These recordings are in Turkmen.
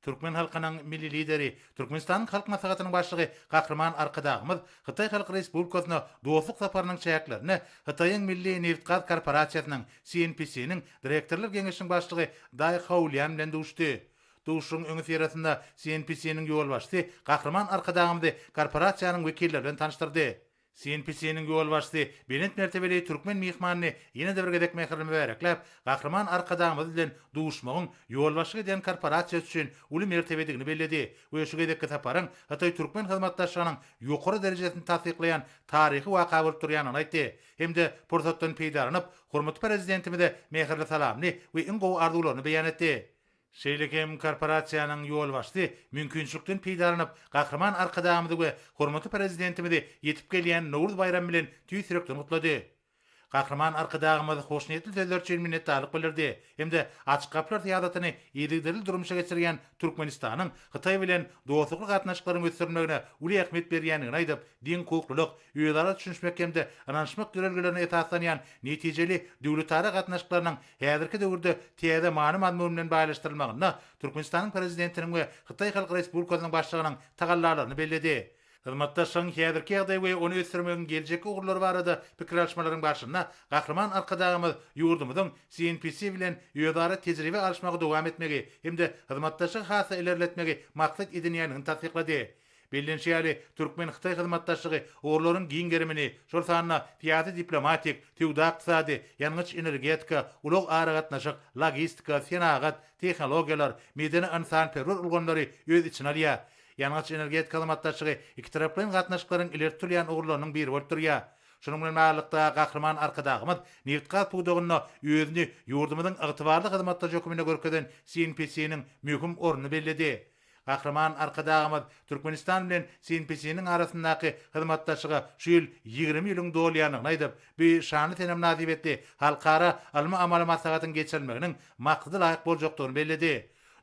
Türkmen halkynyň Milli Lideri, Türkmenistanyň Halk Maslahatynyň Başlygy Gahryman Arkadagymyz Hytaý Halk Respublikasyna dostluk saparynyň çäklerinde Hytaýyň Milli nebitgaz korporasiýasynyň, CNPC-niň, Direktorlar Geňeşiniň Başlygy Daý Haolian bilen duşdy. Duşuşygyň öňüsyrasynda CNPC-niň ýolbaşçysy Gahryman Arkadagymyzy korporasiýanyň wekilleri bilen tanyşdyrdy. CNPC-niň ýolbaşçysy belent mertebeli türkmen myhmanyny ýene-de bir gezek mähirli mübärekläp, Gahryman Arkadagymyz bilen duşmagyň ýolbaşçylyk edýän korporasiýasy üçin uly mertebedigini belledi we şu gezekki saparyň hytaý-türkmen hyzmatdaşlygynyň ýokary derejesini tassyklaýan taryhy waka bolup durýanyny aýtdy hem-de pursatdan peýdalanyp, hormatly Prezidentimize mähirli salamyny we iň gowy arzuwlaryny beýan etdi. Şeýle hem korporasiýanyň ýolbaşçysy mümkinçilikden peýdalanyp, Gahryman Arkadagymyzy we hormatly Prezidentimizi ýetip gelýän Nowruz baýramy bilen tüýs ýürekden gutlady. Gahryman Arkadagymyz hoşniýetli sözler üçin minnetdarlyk bildirdi hem-de Açyk gapylar syýasatyny yzygiderli durmuşa geçirýän Türkmenistanyň Hytaý bilen dostlukly gatnaşyklaryň ösdürilmegine uly ähmiýet berýändigini aýdyp, deňhukuklylyk, özara düşünişmek hem-de ynanyşmak ýörelgelerine esaslanýan netijeli döwletara gatnaşyklarynyň Häzirki döwürde täze many-mazmun bilen baýlaşdyrylmagynda Türkmenistanyň Prezidentiniň we Hytaý Halk Respublikasynyň Başlygynyň tagallalaryny belledi. Hyzmatdaşlygyň häzirki ýagdaýy we ony ösdürmegiň geljekki ugurlary barada pikir alyşmalaryň barşynda Gahryman Arkadagymyz ýurdumyzyň CNPC bilen özara tejribe alyşmagy dowam etmegi hem-de hyzmatdaşlygy has-da ilerletmegi maksat edinýändigini tassyklady. Bellenişi ýaly, türkmen-hytaý hyzmatdaşlygy ugurlaryň giň gerimini, şol sanda syýasy-diplomatik, söwda-ykdysady, ýangyç-energetika, ulag-aragatnaşyk, logistika, senagat, tehnologiýalar, medeni-ynsanperwer ulgamlary öz içine alýar. Ýangyç-energetika hyzmatdaşlygy ikitaraplaýyn gatnaşyklaryň ileri tutulýan ugurlarynyň biri bolup durýar. Şunuň bilen baglylykda, Gahryman Arkadagymyz nebit-gaz pudagynda özüni ýurdumyzyň ygtybarly hyzmatdaşy hökmünde görkezen CNPC-niň möhüm ornuny belledi. Gahryman Arkadagymyz Türkmenistan bilen Sin-Pisiniň arasyndaky hyzmatdaşlyga şu ýyl ýigrimi ýylyň dolýandygyny aýdyp, bu şanly sene mynasybetli halkara ylmy-amaly maslahatyň geçirilmeginiň maksadalaýyk boljakdygyny belledi.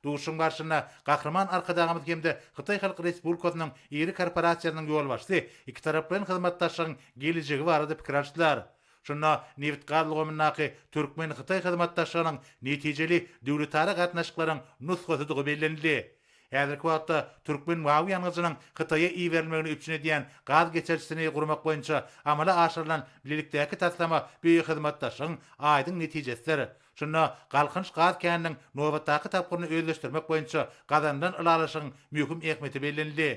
Duşuşygyň barşynda Gahryman Arkadagymyz hem-de Hytaý Halk Respublikasynyň iri korporasiýasynyň ýolbaşçysy ikitaraplaýyn hyzmatdaşlygyň gelejegi barada pikir alşdylar. Şunda nebit-gaz ulgamyndaky türkmen-hytaý hyzmatdaşlygynyň netijeli döwletara gatnaşyklaryň nusgasydygy bellenildi. Häzirki wagtda türkmen mawy ýangyjynyň Hytaýa iberilmegini üpjün edýän gaz geçirijisini gurmak boýunça amala aşyrylan bilelikdäki taslama bu hyzmatdaşlygyň aýdyň netijesidir. Şunda Galkynyş gaz käniniň nobatdaky tapgyryny özleşdirmek boýunça gazanylan ylalaşygyň möhüm ähmiýeti bellenildi.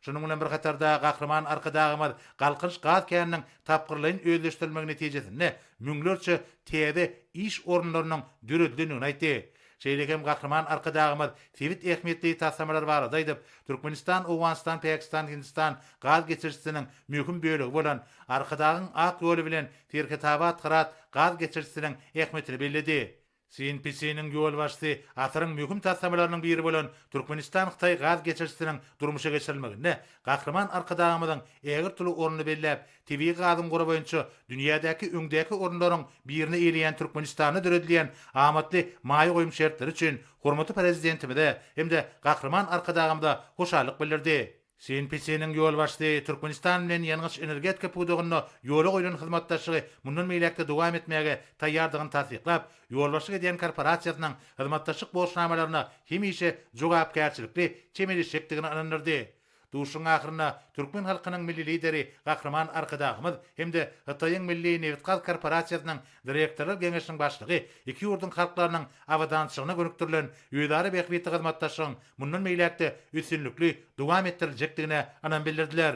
Şunuň bilen bir hatarda, Gahryman Arkadagymyz Galkynyş gaz käniniň tapgyrlaýyn özleşdirilmegi netijesinde müňlerçe täze iş orunlarynyň döredilendigini aýtdy. Şeýle hem Gahryman Arkadagymyz sebit ähmiýetli taslamalar barada aýdyp, Türkmenistan-Owganystan-Päkistan-Hindistan gaz geçirijisiniň möhüm bölegi bolan Arkadagyň ak ýoly bilen Serhetabat-Hyrat gaz geçirijisiniň ähmiýetini belledi. CNPC-niň ýolbaşçysy asyryň möhüm taslamalarynyň biri bolan Türkmenistan-Hytaý gaz geçirijisiniň durmuşa geçirilmeginde Gahryman Arkadagymyzyň ägirt uly ornuny belläp, tebigy gazyň gory boýunça dünýädäki öňdäki orunlaryň birini eýleýän Türkmenistanda döredilýän amatly maýa goýum şertleri üçin hormatly Prezidentimize hem-de Gahryman Arkadagymyza hoşallyk bildirdi. CNPC-niň ýolbaşçysy Türkmenistan bilen ýangyç-energetika pudagynda ýola goýlan hyzmatdaşlygy mundan beýläk-de dowam etmäge taýýardygyny tassyklap, ýolbaşçylyk edýän korporasiýasynyň hyzmatdaşlyk borçnamalaryna hemişe jogapkärçilikli çemeleşjekdigini ynandyrdy. Duşuşygyň ahyrynda türkmen halkynyň Milli Lideri Gahryman Arkadagymyz hem-de Hytaýyň Milli nebitgaz korporasiýasynyň Direktorlar geňeşiniň başlygy iki ýurduň halklarynyň abadançylygyna gönükdirilen özara bähbitli hyzmatdaşlygyň mundan beýläk-de üstünlikli dowam etdiriljekdigine ynam bildirdiler.